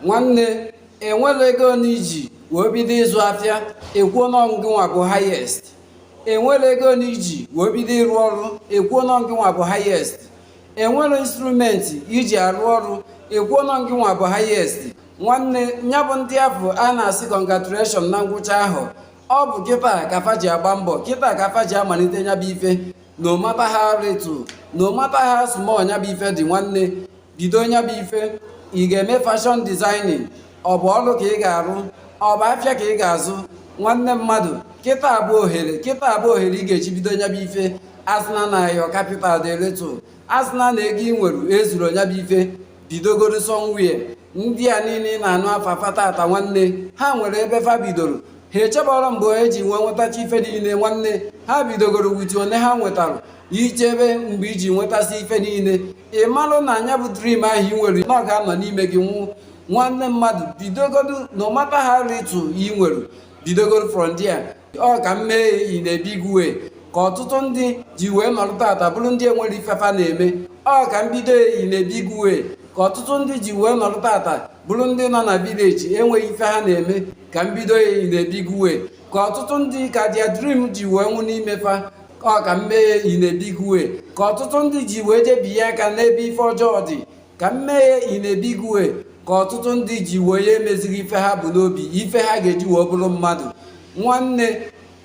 nwanne enwere ego ole iji wee bido ịzụ afịa ekwuo na ọ ngị nwa bụ highest enwere ego ole iji wee bido ịrụ ọrụ ekwuo na ọ ngị nwa bụ highest enwere instrument iji arụ ọrụ ekwuo na ọ ngị nwa bụ highest nwanne ya bụ ndị afụ a na-asị congratulation na ngwụcha ahụ ọ bụ kịta ka fa ji agba mbọ kịta ka fa ji amalite nya bụ ife no matter how little no matter how small nya bụ ife dị nwanne bido nya bụ ife ị ga-eme fashion designing ọ bụ ọrụ ka ị ga-arụ ọ bụ afịa ka ị ga-azụ nwanne mmadụ kịta abụ ohere kịta abụ ohere ị ga-eji bido nya bụ ife asịna na your capital dị little asịna na ego ị nwere ezuro nya bụ ife bidogoro somewhere ndị a niile ị na-anụ afa fa tata nwanne ha nwere ebe fa bidoro ha echebarọ mgbe e ji wee nwetacha ife niile nwanne ha bidogoro with the one ha nwetara i chebe mgbe i ji nwetasị ife niile ị malụ na nya bụ dream ahụ ị nwere na ọ ga-anọ n'ime gị nwụ nwanne mmadụ bidogodo no matter how little ị nwere bidogoro from there ọ ka m mee ya in a big way ka ọtụtụ ndị ji wee nọrọ tata bụrụ ndị enwerọ ife fa na-eme ọ ka m bido ya in a big way ka ọtụtụ ndị ji wee nọrọ tata bụrụ ndị nọ na village enweghị ife ha na-eme ka m bido ya in a big way ka ọtụtụ ndị ka their dream ji wee nwụ n'ime fa ọ ka m mee ya in a big way ka ọtụtụ ndị ji wee jebinye aka n'ebe ife ọjọọ dị ka m mee ya in a big way ka ọtụtụ ndị ji wee ya emezighị ife ha bu n'obi ife ha ga-eji wee bụrụ mmadụ nwanne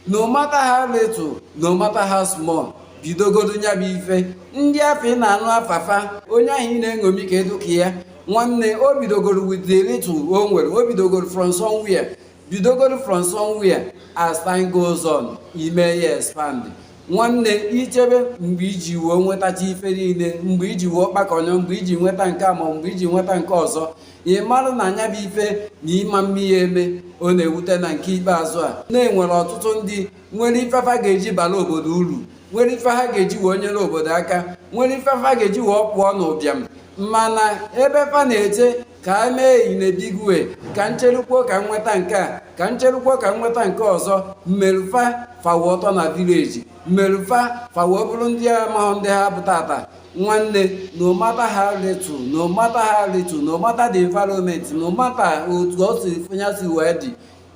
no matter how little no matter how small bidogodo nya bụ ife ndị afụ ị na-anụ afa fa onye ahụ ị na-eṅomi ka ị dụ ka ya nwanne o bidogoro with the little o nwere o bidogoro from somewhere bidogoro from somewhere as time goes on i mee ya expand nwanne i chebe mgbe i ji wee nwetacha ife niile mgbe i ji wee kpakọnye mgbe i ji nweta nke a ma mgbe i ji nweta nke ọzọ ị marụ na nya bụ ife na ị ma-eme ya eme ọ na-ewute na nke ikpeazụ a na e nwere ọtụtụ ndị nwere ife fa ga-eji bara obodo uru nwere ife ha ga-eji wee nyere obodo aka nwere ife ha ga-eji wee pụọ n'ụbịam mana ebe fa na-eche ka e mee in a big way ka m cherukwuo ka m nweta nke a ka m cherukwuo ka m nweta nke ọzọ meru fa fa wee tọ na village meru fa fa wee bụrụ ndị amahụ ndị ha bụ tata nwanne no matter how little no matter how little no matter the environment no matter otu o si fụnya si wee dị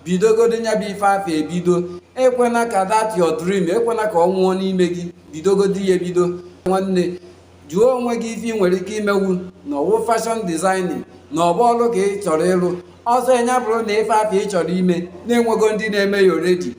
bidogodo nya bụ ife afụ ebido ekwena ka that your dream ekwena ka ọ nwụọ n'ime gị bidogodo ya ebido nwanne jụọ onwe gị ife ị nwere ike imewu na ọ wụ fashion designing na ọ bụ ọrụ ka ị chọrọ ịrụ ọzọ nya bụrụ na ife afụ ị chọrọ ime na-enwego ndị na-eme ya already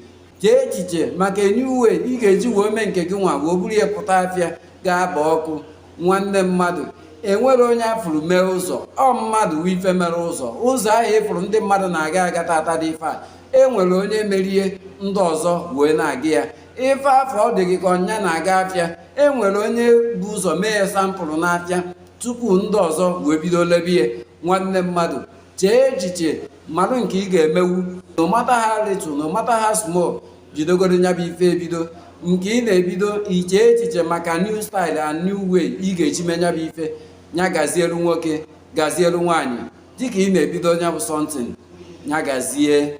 chee echiche maka new way ị ga-eji wee mee nke gị nwa wee buru ya pụta afịa ga-aba ọkụ nwanne mmadụ e nwere onye a fụrụ mere ụzọ ọ mmadụ wụ ife mere ụzọ ụzọ ahụ ị fụrụ ndị mmadụ na-aga aga tata dị ife a e nwere onye mere ya ndị ọzọ wee na-aga ya ife afụ ọ dị gị ka ọ nya na-aga afịa e nwere onye bu ụzọ mee ya sample n'afịa tupu ndị ọzọ wee bido lebe ya nwanne mmadụ chee echiche marụ nke ị ga-emewu no matter how little no matter how small bidogoro nya bụ ife ebido nke ị na-ebido iche echiche maka new style and new way ị ga-eji mee nya bụ ife nya gazielu nwoke gazielu nwaanyị dịka ị na-ebido nya bụ something nya gazie